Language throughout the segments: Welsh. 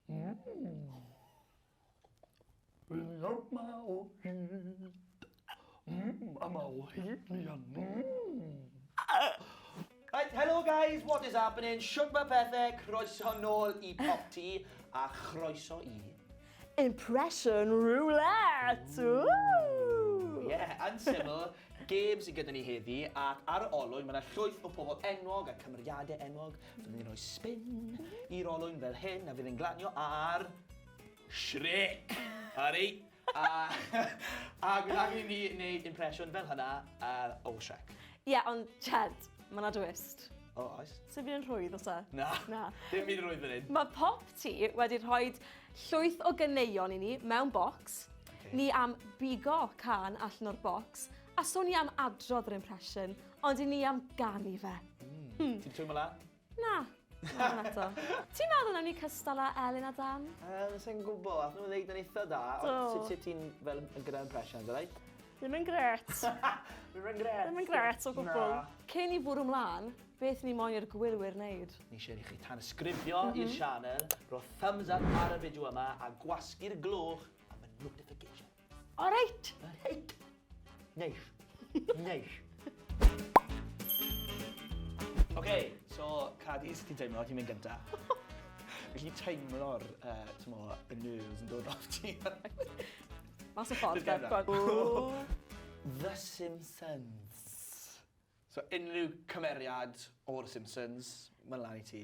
Mmm. Wylio ma o hyd. Mmm a ma o hyd mi a mmm. Right, helo guys, what is happening? Shwt mae pethau? Croeso nôl i Pop Tee a chroeso i... Impression Roulette! Woo! Ie, yn syml, gêm sydd gyda ni heddi ac ar y olwyn mae yna llwyth o pobl enwog a cymeriadau enwog Fydd ni'n rhoi spin i'r olwyn fel hyn a fydd yn glanio ar... Shrek! Harry! a, a bydd angen i ni wneud impression fel hynna uh, o Shrek. Ie, yeah, ond Chad, mae yna dwist. O, oh, oes. Sef fi'n rhwydd, os e? Na. Na. Dim fi'n rhwydd fan hyn. Mae pop ti wedi rhoi llwyth o gyneuon i ni mewn bocs. Okay. Ni am bigo can allan o'r bocs a sôn ni am adrodd yr impression Ond i ni am ganu fe. Mm. Ti'n twymol e? Na. Ti'n meddwl am ni cystal â Elin a Dan? Um, Sa'n gwybod, ath nhw'n ddeud yn eitha da. Sut ti ti'n fel yn gyda impressions, alai? Ddim yn gret. Ddim yn gret. Ddim yn gret o gwbl. Cyn i fwrw mlaen, beth ni moyn i'r gwylwyr wneud? Ni eisiau i chi tan ysgrifio mm -hmm. i'r sianel, rho thumbs up ar y fideo yma a gwasgu'r gloch am y notification. All right. Reit. Neis. Neis. OK, so Cadi, sut ti'n teimlo? Ti'n mynd gynta? Felly teimlo'r, uh, ti'n mo, y nerves yn dod off ti. Mas o ffordd, Gad. The Simpsons. So unrhyw cymeriad o'r Simpsons, mae'n lan i ti.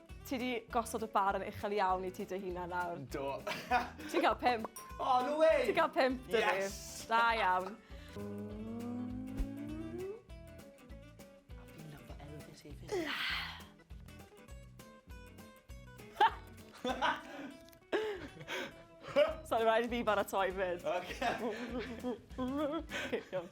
Ti di gosod y bar yn uchel iawn i ti dy hunan nawr. Do. Ti'n cael pimp. Oh, no way! Ti'n cael pimp, dwi. Yes! Da iawn. Sorry, rhaid i fi baratoi fyd. Okay. okay, iawn.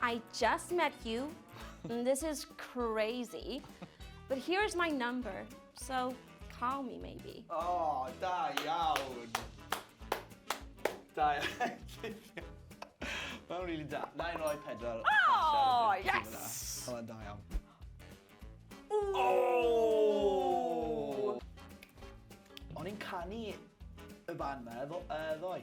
I just met you, and this is crazy, but here is my number, so call me maybe. Oh, da iawn! Da iawn. Mae'n really da. Na i roi pedwar. Oh, yes! Mae'n da iawn. Oh! O'n i'n canu y fan ma, ddoe.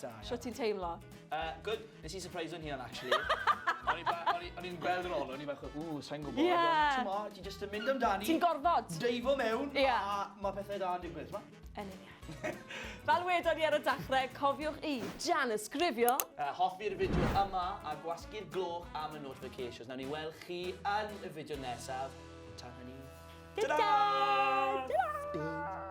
Da. Sio ti'n teimlo? Uh, good. Nes i surprise o'n hynna'n actually. O'n i'n gweld yn ôl, o'n i'n bach o, ww, sa'n gwybod. Yeah. Ti'n mo, ti'n just yn mynd amdani. Ti'n gorfod. Deifo mewn, yeah. a mae pethau da yn digwydd, ma? Yn union. Fel wedon ni ar y dechrau, cofiwch i Jan ysgrifio. Uh, hoffi'r fideo yma a gwasgu'r gloch am y notifications. Nawr ni weld chi yn y fideo nesaf. Tan hynny. Ta-da! Ta-da! Ta-da!